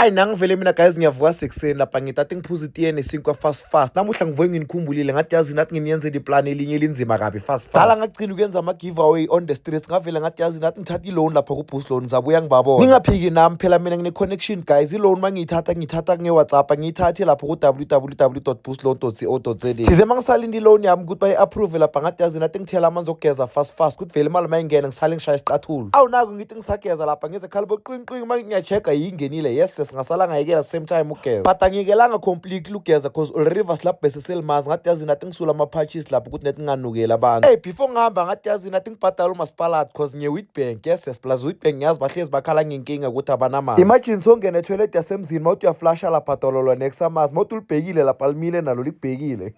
ayi nangivele mina guys ngiyavuka sekuseni lapha ngithathe ngiphuza itiye nesinkwa fast fast namuhla ngivuke nginikhumbulile ngathi yazi nathi nginiyenzela iplani elinye elinzima kabi fast fast dala ngagcina ukuyenza ama-giveaway on the streets ngavele ngathi yazi nathi ngithatha i-loan lapha ku-boost loan ngizabuya ngibabona ningaphiki nami phela mina ngine-connection guys i-loan uma ngiyithatha ngiyithatha nge-whatsapp ngiyithathe lapho ku-www boost loan co za size uma ngisalinde i-loan yami ukuthi bayi-approve lapha ngathi yazi nathi ngithela amanzi okugeza fast fast kuthi vele imali uma ingena ngisale ngishaya isiqathulu awu naku ngithi ngisageza lapha ngize khala boqinqinqi uma ngiyachecka yingenile yes singasala ngayekela same time ugeza but angiyekelanga completely ugeza cause ulriver silabhese selimazi ngathi yazi nathi ngisula ama-patches lapho ukuthi nathi nginganukeli abantu hey before ngihamba ngathi yazi nathi ngibhadala umasipalad cause ngiye-witbank yes yes plus witbank ngiyazi bahlezi bakhala ngenkinga ukuthi abanamali imagine songena etoilet yasemzini mawuthi uyaflasha lapha dololo next amazi mawuthi ulibhekile lapha limile nalo libhekile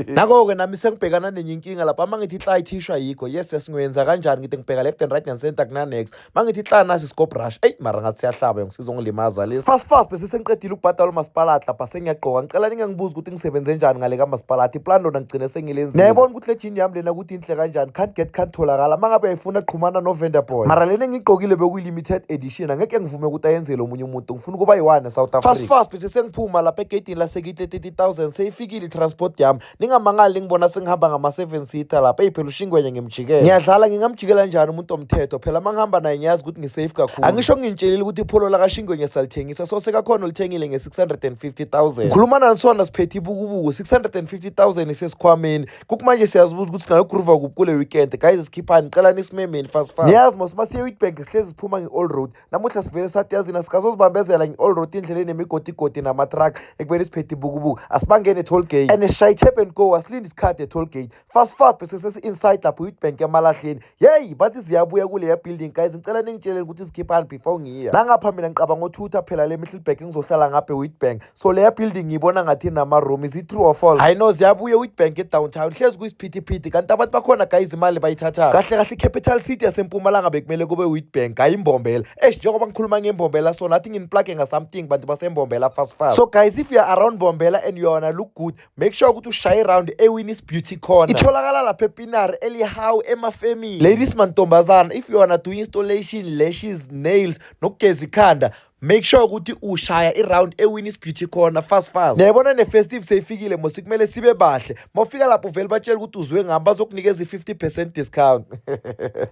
Nako-ke nami sengibhekana nenye inkinga lapha uma ngithi hla ithishwa yikho yes yes ngiyoyenza kanjani ngithi ngibheka left and right and center kunanex uma ngithi hla nasi scope rush eyi mara ngathi siyahlaba yong sizongilimaza lesi fast fast bese sengiqedile ukubhadala umasipalati lapha sengiyagqoka ngicela ningangibuza ukuthi ngisebenze njani ngale kamasipalati iplan lona ngigcine sengilenzile nayibona ukuthi le jini yami lena ukuthi inhle kanjani can't get can't tholakala uma ngabe yayifuna qhumana novender boy mara lena engiyigqokile bekuyilimited edition angeke ngivume ukuthi ayenzele omunye umuntu ngifuna ukuba yiwane south africa fast fast bese sengiphuma lapha egeyidini lasekitle thousand seyifikile i-transport yami ningamangali ningibona sengihamba ngama-seven seater lapha eyi phela ushingwenye ngimjikela ngiyadlala ngingamjikela njani umuntu omthetho phela uma ngihamba naye ngiyazi ukuthi ngisafe kakhulu angisho ngintsheliile ukuthi ipholo lakashingwenye salithengisa so sekakhona olithengile nge-650 000 ngikhuluma nanisona siphethe ibukubuku 650 000 isesikhwameni kukumanje siyazibuza ukuthi singayogruva kuphi kule weekend guys sikhiphani qelani isimemeni fast fast niyazi mos uma siye-witbank sihlezi siphuma nge-all road namuhla sivele sathi yazini asikazozibambezela ngi-all road indlela enemigodigodi nama-truck ekubeni siphethe ibukubuku asibangene e-toll gate and shy tap and go asilinde isikhathi e-toll gate fast fast bese sesi-inside lapho youth bank emalahleni yeyi bathi ziyabuya kuleya building guys ngicela ningitsheleni ukuthi zikhiphani before ngiya nangapha mina ngicabanga othutha phela le mihlilbag ngizohlala ngapha e-wheat bank so leya building ngiyibona ngathi inama-room is it true or false hayi no ziyabuye witbank edowntown hlezi kuyisiphithiphithi kanti abantu bakhona guys imali bayithatha kahle kahle icapital city yasempumalanga bekumele kube witbank hayi imbombela esh njengoba ngikhuluma ngembombela so nathi nginiplage ngasomething bantu basembombela fast fast so guys if you are around bombela and you wanna look good make sure ukuthi ushaye round ewinis beauty corner itholakala lapha epinari elihawu emafemini ladies mantombazana if you wanna do installation lashes nails nokugeza ikhanda make sure ukuthi ushaya iround ewinnis beauty corner fast fast nayibona ne-festive seyifikile mosi kumele sibe bahle uma ufika lapho uvele batshele ukuthi uzwe ngami bazokunikeza i-50 percent discount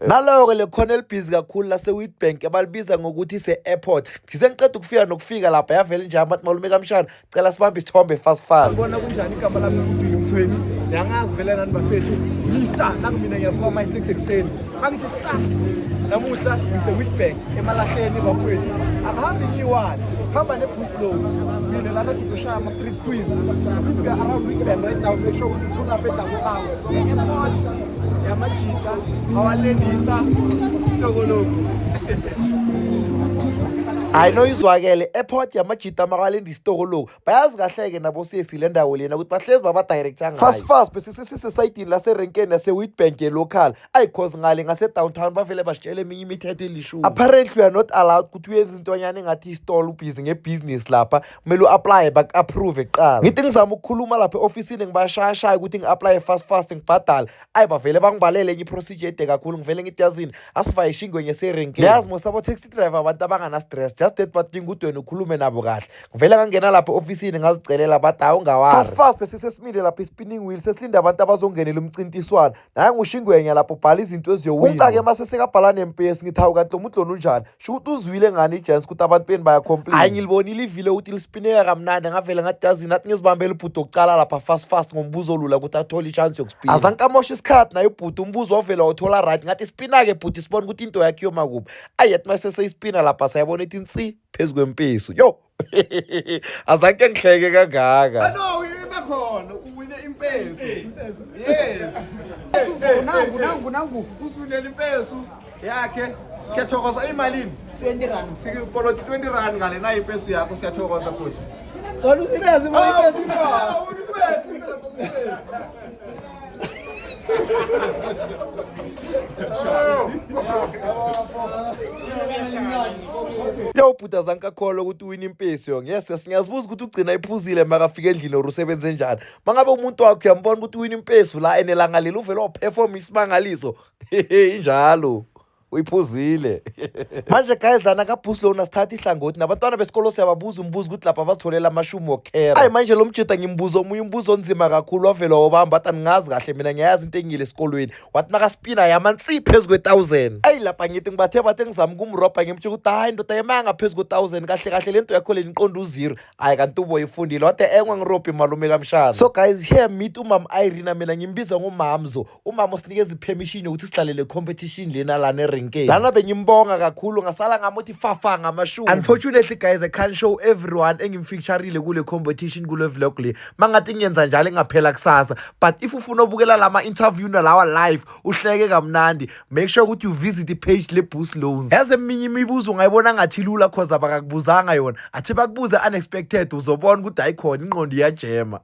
naloyo-ke le khona elibhizi kakhulu lase-witbank abalibiza ngokuthi se-airport ngise ngiqeda ukufika nokufika lapha yavele nje amathi malume kamshana cela sibambe isithombe fast fast bona kunjani igama lami lokuduya umthweni niyangazi vele nani bafethu mister nangu mina ngiyavuka my 6 ekuseni angithi ah, namuhla ngise-witbank emalahleni bafowethu akuhambi ngiyiwani hamba ne-bush low sine lana sizoshaya ama-street quiz if you're around witbank right now make sure ukuthi pull up edowntown airport yamajika awalendisa sitokoloku hayi noyizwakele airport yamajika itamaka lenda isitoko loku bayazi kahle-ke nabo sesi le ndawo lena ukuthi bahlezi babadirecta ngayo fast fast besisisesayidini laserenkeni yase-witbank ye-local ayi cause ngale ngase-downtown bavele basitshela eminye imithetho elishumi apparently we are not allowed ukuthi uyenza intonyana engathi istolo ubhizi ngebhizinisi lapha kumele u-aplaye baku-approve kuqala ngithi ngizama ukukhuluma lapha e-ofisini ngibashayashaya ukuthi ngi-aplaye fast fast ngibhadale ayi bavele bangibhalele enye iprocedure ede kakhulu ngivele ngithi yazini asivaye ishingwenye serenke yazi most abo taxi driver abantu abangana-stress just that badinga udweni ukhulume nabo kahle ngivele ngangena lapho ofisini ngazicelela bathi hawu ungawafast bese sesimile lapho i-spinning wheel sesilinde abantu abazongenela umcintiswano naye ngushingwenya lapho bhala izinto eziyowunca-ke uma sesekabhala nempesi ngithi hawu kanti lo mudloni unjani sho ukuthi uzwile ngani ijans ukuthi abantu beni bayacomplain hayi ngilibonile ivile ukuthi lispineka kamnandi ngavele ngadazini athi ngizibambele ubhuti okucala lapha fast fast ngombuzo olula ukuthi athole ichance yokuspina azangikamosha isikhathi naye ubhuti umbuzo wavele wawuthola right ngathi spina-ke bhuti sibona ukuthi into yakhe yoma kubi ayi yathi maseseyspina lapha sayabona ithi nsi phezu kwempesu yo azange ngihleke kangaka no ibe khona uwine impeso yes nangu nangu nangu usiwinela impeso yakhe siyathokoza imalini 20 rand sikoloti 20 rand ngale nayo impeso yakho siyathokoza futhi Olha o Zirez, o Zirez. yawubhuda zankakholwa ukuthi uwina impesi yo yes yes ngiyazibuza ukuthi ugcina iphuzile makafika endlini or usebenze njani mangabe umuntu wakho uyambona ukuthi uwina impesi la and elanga leli uvele waphefoma isimangaliso hehe injalo uyiphuzile manje guys lana kabhusi lona sithatha ihlangothi nabantwana besikolo siyababuza umbuzo ukuthi lapha bazitholela amashumi wokhera ayi manje lo mjida ngimbuza omunye umbuzo onzima kakhulu wavela wobamba wathi andingazi kahle mina ngiyayazi into engile esikolweni wathi nakaspina yama nsi phezu kwe-thousand ayi lapha ngithi ngibathe bathe ngizama ukumrobha ngimtsho ukuthi hayi ndoda yemaya ngaphezu kwe-thousand kahle kahle le nto yakho le niqonda uzero hhayi kanti uboyifundile wathi engwa ngirobhe malume kamshana so guys here meet umama irina mina ngimbiza ngomamzo umama usinikeza ipermission yokuthi sidlalele competition lena lana erenkeni lana bengimbonga kakhulu ngasala ngamuthi fafa ngamashumi unfortunately guys i can't show everyone engimfeaturile kule competition kule vlog le mangathi ngiyenza njalo engaphela kusasa but if ufuna ubukela lama interview nalawa live uhleke kamnandi make sure ukuthi you visit ipage le boost loans yazi eminye imibuzo ungayibona ngathi lula cause abakakubuzanga yona athi bakubuze unexpected uzobona ukuthi ayikhona inqondo iyajema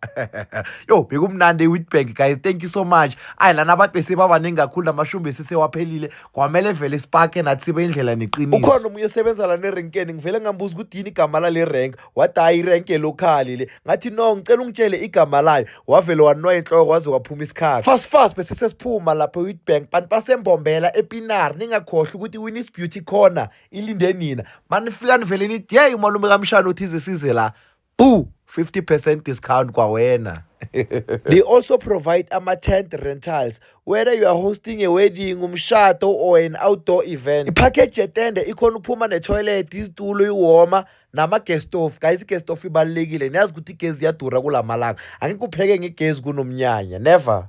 yo bekumnandi ewitbank guys thank you so much ayi lana abantu besebabaningi kakhulu namashumi besesewaphelile kwamele vele sipakhe nathi sibe indlela neqiniso ukhona omunye osebenza lana erenkeni ngivele ngambuza ukuthi yini igama lale renk wathi hayi irenke lokhali le ngathi no ngicela ungitshele igama layo wavele wanoya inhloko waze waphuma isikhathi fast fast bese sesiphuma lapho ewitbank bantu basembombela epinari ningakhohlwa ukuthi winis beauty corner ilinde nina manifika nivele nithi yeyi umalume kamshana othize size la Boo! 50 percent discount kwawena. They also provide ama-tent rentals whether you are hosting a wedding, umshado or an outdoor event. Ipackage yetende ikhona ukuphuma netoilet, izitulo, iwoma nama-gas stove. Guys, i-gas stove ibalulekile. Niyazi ukuthi igezi iyadura kula malanga. Angeke upheke ngegezi kunomnyanya. Never.